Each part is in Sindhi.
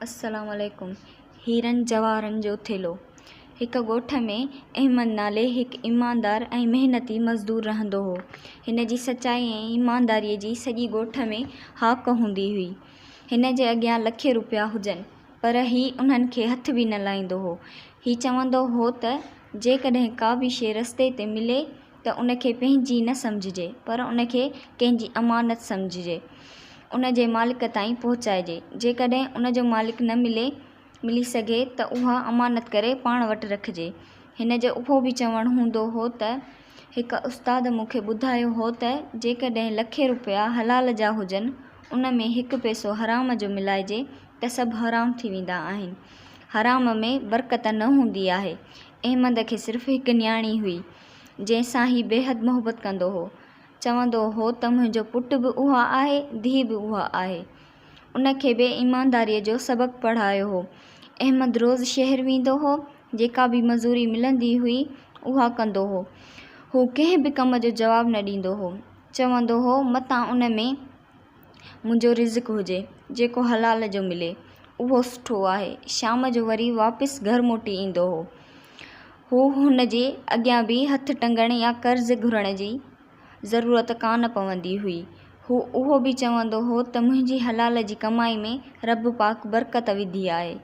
السلام عليڪم هيرن جواهرن جو ٿيلهو هڪ ڳوٺ ۾ احمد نالي هڪ ايماندار ۽ محنتي مزدور رهندو هو هن جي سچائي ۽ ايمانداري جي سڄي ڳوٺ ۾ هاڪ هوندي هئي هن جي اڳيان لکين روپيا هجن پر هي انهن کي هٿ به نه لائيندو هو هي چوندو هو ته جيڪڏهن ڪا به شيء رستي تي ملي ته ان کي پنهنجي نه سمجهجي پر ان کي ڪنهن جي امانت سمجهجي ان جي مالڪ تائين پهچائجي جيڪڏهن ان جو مالڪ نه ملي ملي سگهي ته اها امانت ڪري پاڻ وٽ رکجي هن جو اهو به چوڻ هوندو هو ته هڪ استاد مون کي ٻڌايو هو ته جيڪڏهن لکين روپيا حلال جا هجن ان ۾ هڪ پئسو حرام جو ملائجي ته سڀ حرام ٿي ويندا آهن حرام ۾ برڪت نه هوندي آهي احمد کي صرف هڪ نياڻي هئي جنهن سان هي بيحد محبت ڪندو هو. چوندو هو ته منهنجو پٽ به اها آهي، ڌيء به اها آهي. ان کي به ايمانداريء جو سبق پڙهايو هو. احمد روز شهر ويندو هو، جيڪا به مزوري ملندي هئي، اها ڪندو هو. هو ڪنهن به ڪم جو جواب نه ڏيندو هو. چوندو هو متان ان ۾ منهنجو رزق هجي، جيڪو حلال جو ملي، اهو سٺو آهي. شام جو وري واپس گهر موٽي ايندو هو. هو هن جي اڳيان به هٿ ٽنگڻ يا قرض گهرڻ جي ضرورت ڪانه پوندي هئي. هو اهو به چوندو هو ته منهنجي حلال جي ڪمائي ۾ رب پاڪ برڪت وڌي آهي.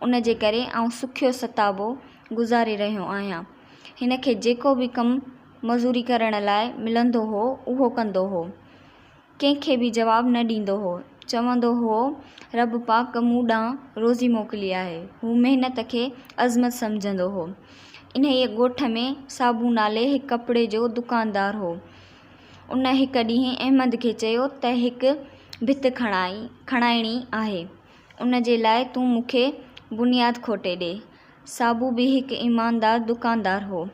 ان جي ڪري آئون سکيو ستابو گذاري رهيو آهيان. هن کي جيڪو به ڪم مزوري ڪرڻ لاء ملندو هو، اهو ڪندو هو. ڪنهن کي به جواب نه ڏيندو هو. چوندو هئو، رب پاڪ مون ڏانهن روزي موڪلي آهي. هو محنت کي عظمت سمجهندو هو. انهيء ڳوٺ ۾ صابو نالي هڪ ڪپڙي جو دڪاندار هو. ان هڪ ڏينهن احمد کي چيو ته هڪ ڀت کڻائڻي آهي. ان جي لاء تون مون کي بنياد کوٽي ڏي. صابو به هڪ ايماندار دڪاندار هو.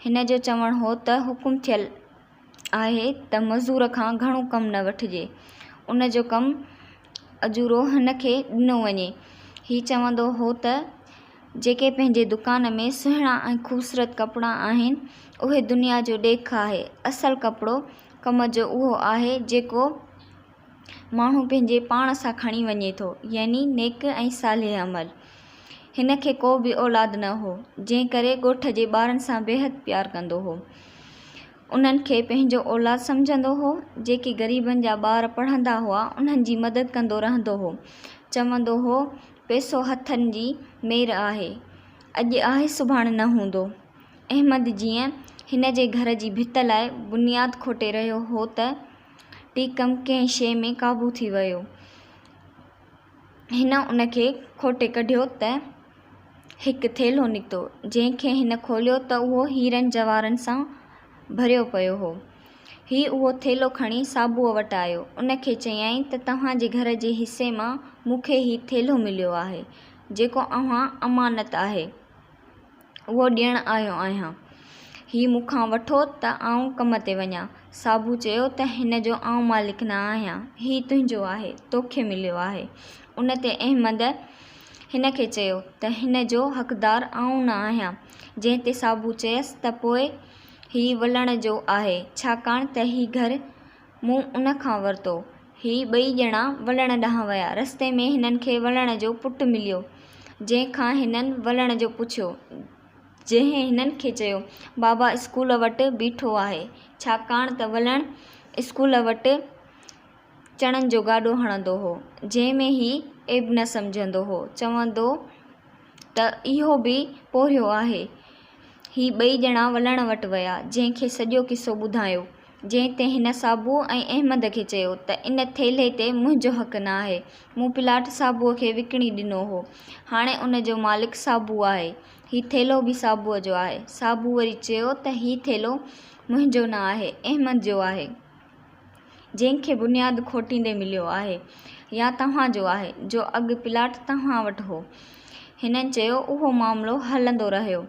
هن جو چوڻ هو ته حڪم ٿيل. آهي ته مزور کان گهڻو ڪم نه وٺجي. ان جو ڪم اجورو هن کي ڏنو وڃي. هي چوندو هو ته جيڪي پنهنجي دڪان ۾ سهڻا ۽ خوبصورت ڪپڙا آهن، اهي دنيا جو ڏيک آهي. اصل ڪپڙو ڪم جو اهو آهي جيڪو ماڻهو پنهنجي پاڻ سان کڻي وڃي ٿو، يعني نيڪ ۽ صالح عمل. هن کي ڪو به اولاد نه هو، جنهن ڪري ڳوٺ جي ٻارن سان بيحد پيار ڪندو هو. انهن کي پنهنجو اولاد سمجهندو هو. جيڪي غريبن جا ٻار پڙهندا هئا، انهن جي مدد ڪندو رهندو هو. چوندو هو، پئسو هٿن جي مير آهي. اڄ آهي سڀاڻ نه هوندو. احمد جيئن هن جي گهر جي ڀت لاء بنياد کوٽي رهيو هو ته، ٽي ڪم ڪنهن شيء ۾ قابو ٿي ويو. هن ان کي کوٽي ڪڍيو ته هڪ ٿيلهو نڪتو، جنهن کي هن کوليو ته اهو هيرن جواهرن سان ڀريو پيو هو. هي اهو ٿيلهو کڻي صابوء وٽ آيو. ان کي چيائين ته توهان جي گهر جي حصي مان مون کي هي ٿيلهو مليو آهي، جيڪو اوهان امانت آهي. اهو ڏيڻ آيو آهيان. هي مون کان وٺو ته آئون ڪم تي وڃان. صابو چيو ته هن جو آئون مالڪ نه آهيان. هي تنهنجو آهي. توکي مليو آهي. ان تي احمد هن کي چيو ته هن جو حقدار آئون نه آهيان. جنهن تي صابو چيس ته پوء هي ولڻ جو آهي. ڇاڪاڻ ته هي گهر مون ان کان ورتو. هي ٻئي ڄڻا ولڻ ڏانهن ويا. رستي ۾ هنن کي ولڻ جو پٽ مليو، جنهن کان هنن ولڻ جو پڇيو، جنهن هنن کي چيو، بابا اسڪول وٽ بيٺو آهي، ڇاڪاڻ ته ولڻ اسڪول وٽ چڻن جو گاڏو هڻندو هو، جنهن ۾ هي عيب نه سمجهندو هو، چوندو هو ته اهو به پورهيو آهي. هي ٻئي ڄڻا ولڻ وٽ ويا، جنهن کي سڄو قصو ٻڌايو. جنهن تي هن صابوء ۽ احمد کي چيو ته ان ٿيلهي تي منهنجو حق نه آهي، مون پلاٽ صابوء کي وڪڻي ڏنو هو، هاڻي ان جو مالڪ صابوء آهي، هي ٿيلهو به صابوء جو آهي. صابوء وري چيو ته هي ٿيلهو منهنجو نه آهي، احمد جو آهي، جنهن کي بنياد کوٽيندي مليو آهي يا توهان جو آهي، جو اڳ پلاٽ توهان وٽ هو. هنن چيو اهو معاملو هلندو رهيو.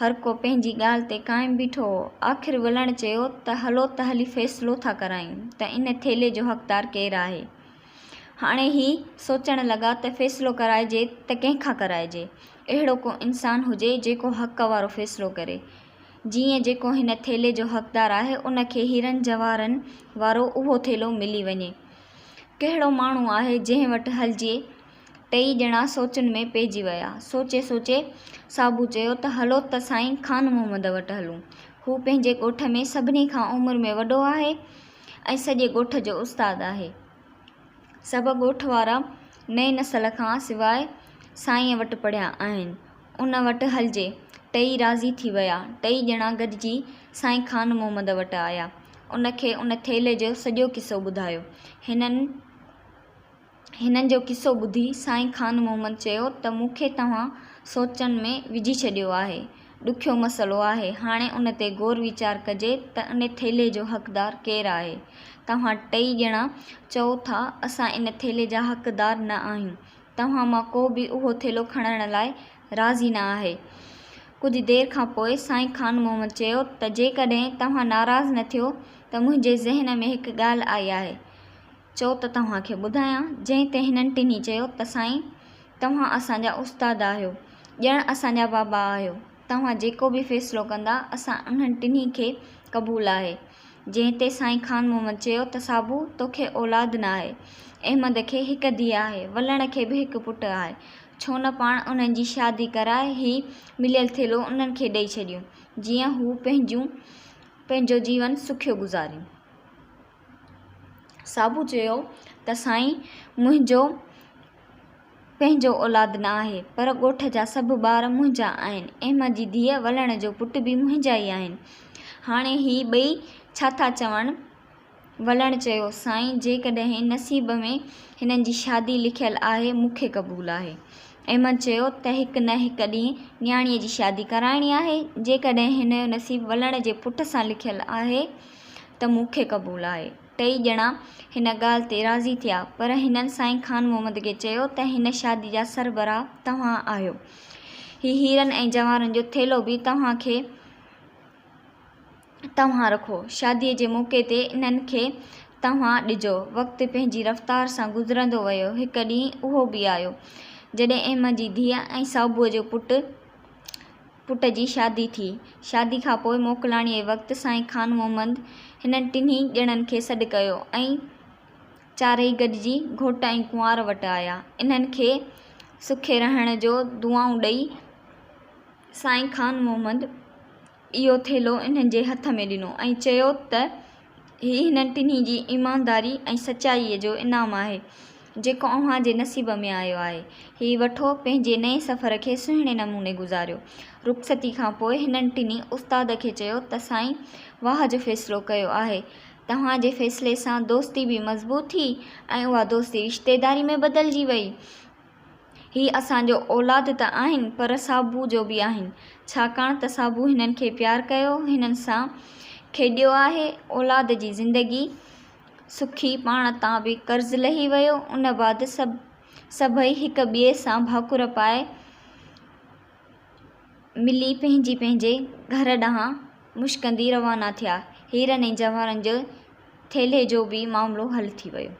هر ڪو پنهنجي ڳالهه تي قائم بيٺو هو. آخر ولڻ چيو ته هلو ته هلي فيصلو ٿا ڪرايون ته ان ٿيلهي جو حقدار ڪير آهي. هاڻي هي سوچڻ لڳا ته فيصلو ڪرائجي ته ڪنهن کان ڪرائجي. اهڙو ڪو انسان هجي جيڪو حق وارو فيصلو ڪري. جيئن جيڪو هن ٿيلهي جو حقدار آهي ان کي هيرن جواهرن وارو اهو ٿيلهو ملي وڃي. ڪهڙو ماڻهو آهي جنهن وٽ هلجي ٽيئي ڄڻا سوچن ۾ پئجي ويا. سوچي سوچي صابو چيو ته هلو ته سائين خان محمد وٽ هلون. هو پنهنجي ڳوٺ ۾ سڀني کان عمر ۾ وڏو آهي ۽ سڄي ڳوٺ جو استاد آهي. سڀ ڳوٺ وارا نئين نسل کان سواء سائينء وٽ پڙهيا آهن. ان وٽ هلجي. ٽيئي راضي ٿي ويا. ٽيئي ڄڻا گڏجي سائين خان محمد وٽ آيا. ان کي ان ٿيلهي جو سڄو قصو ٻڌايو. هنن. هنن جو قصو ٻڌي سائين خان محمد چيو ته مون کي توهان سوچن ۾ وجهي ڇڏيو آهي. ڏکيو مسئلو آهي. هاڻي ان تي غور ويچار ڪجي ته ان ٿيلهي جو حقدار ڪير آهي. توهان ٽئي ڄڻا چئو ٿا اسان ان ٿيلهي جا حقدار نه آهيون. توهان مان ڪو به اهو ٿيلهو کڻڻ لاء راضي نه آهي. ڪجهه دير کان پوء سائين خان محمد چيو ته جيڪڏهن توهان ناراض نه ٿيو ته منهنجي ذهن ۾ هڪ ڳالهه آئي آهي. چئو ته توهان کي ٻڌايان. جنهن تي هنن ٽنهي چيو ته سائين! توهان اسان جا استاد آهيو، ڄڻ اسان جا بابا آهيو. توهان جيڪو به فيصلو ڪندا، اسان انهن ٽنهي کي قبول آهي. جنهن تي سائين خان محمد چيو ته صابو! توکي اولاد نه آهي. احمد کي هڪ ڌيء آهي، ولڻ کي به هڪ پٽ آهي. ڇو نه پاڻ انهن جي شادي ڪرائي هي مليل ٿيلهو انهن کي ڏئي ڇڏيون، جيئن هو پنهنجون پنهنجو جيون سکيو گذارين. صابو چيو ته سائين منهنجو پنهنجو اولاد نه آهي پر ڳوٺ جا سڀ ٻار منهنجا آهن احمد جي ڌيء ولڻ جو پٽ به منهنجا ئي آهن هاڻي هي ٻئي ڇا ٿا چون ولڻ چيو سائين جيڪڏهن نصيب ۾ هنن جي شادي لکيل آهي مون کي قبول آهي احمد چيو ته هڪ نه هڪ ڏينهن نياڻيء جي شادي ڪرائڻي آهي جيڪڏهن هن جو نصيب ولڻ جي پٽ سان لکيل آهي ته مون کي قبول آهي. ٽئي ڄڻا هن ڳالهه تي راضي ٿيا، پر هنن سائين خان محمد کي چيو ته هن شادي جا سربراهه توهان آهيو. هي هيرن ۽ جواهرن جو ٿيلهو به توهان کي توهان رکو. شاديء جي موقعي تي انهن کي توهان ڏجو. وقت پنهنجي رفتار سان گذرندو ويو. هڪ ڏينهن اهو به آيو، جڏهن احمد جي ڌيء ۽ صابوء جو پٽ، پٽ جي شادي ٿي. شادي کان پوء موڪلاڻيء وقت سائين خان محمد هنن ٽنهي ڄڻن کي سڏ ڪيو ۽ چارئي گڏجي گهوٽ ۽ ڪنوار وٽ آيا. انهن کي سکي رهڻ جو دعائون ڏئي سائين خان محمد اهو ٿيلهو انهن جي هٿ ۾ ڏنو ۽ چيو ته، هي هنن ٽنهي جي ايمانداري ۽ سچائيء جو انعام آهي، جيڪو اوهان جي نصيب ۾ آيو آهي. هي وٺو، پنهنجي نئين سفر کي سهڻي نموني گذاريو. رخصتيء کان پوء هنن ٽنهي استاد کي چيو ته سائين واهه جو فيصلو ڪيو آهي. توهان جي فيصلي سان دوستي به مضبوط ٿي ۽ اها دوستي رشتيداري ۾ بدلجي ويئي. هي اسان جو اولاد ته آهن پر سابو جو به آهن، ڇاڪاڻ ته سابو هنن کي پيار ڪيو، هنن سان کيڏيو آهي، اولاد جي زندگي سکي پاڻ تان به قرض لهي ويو، ان بعد سڀ سڀئي هڪ ٻئي سان ڀاڪر پائي ملي پنهنجي پنهنجي گهر ڏانهن مشڪندي روانا ٿيا، هيرن ۽ جواهرن جي ٿيلهي جو به معاملو حل ٿي ويو.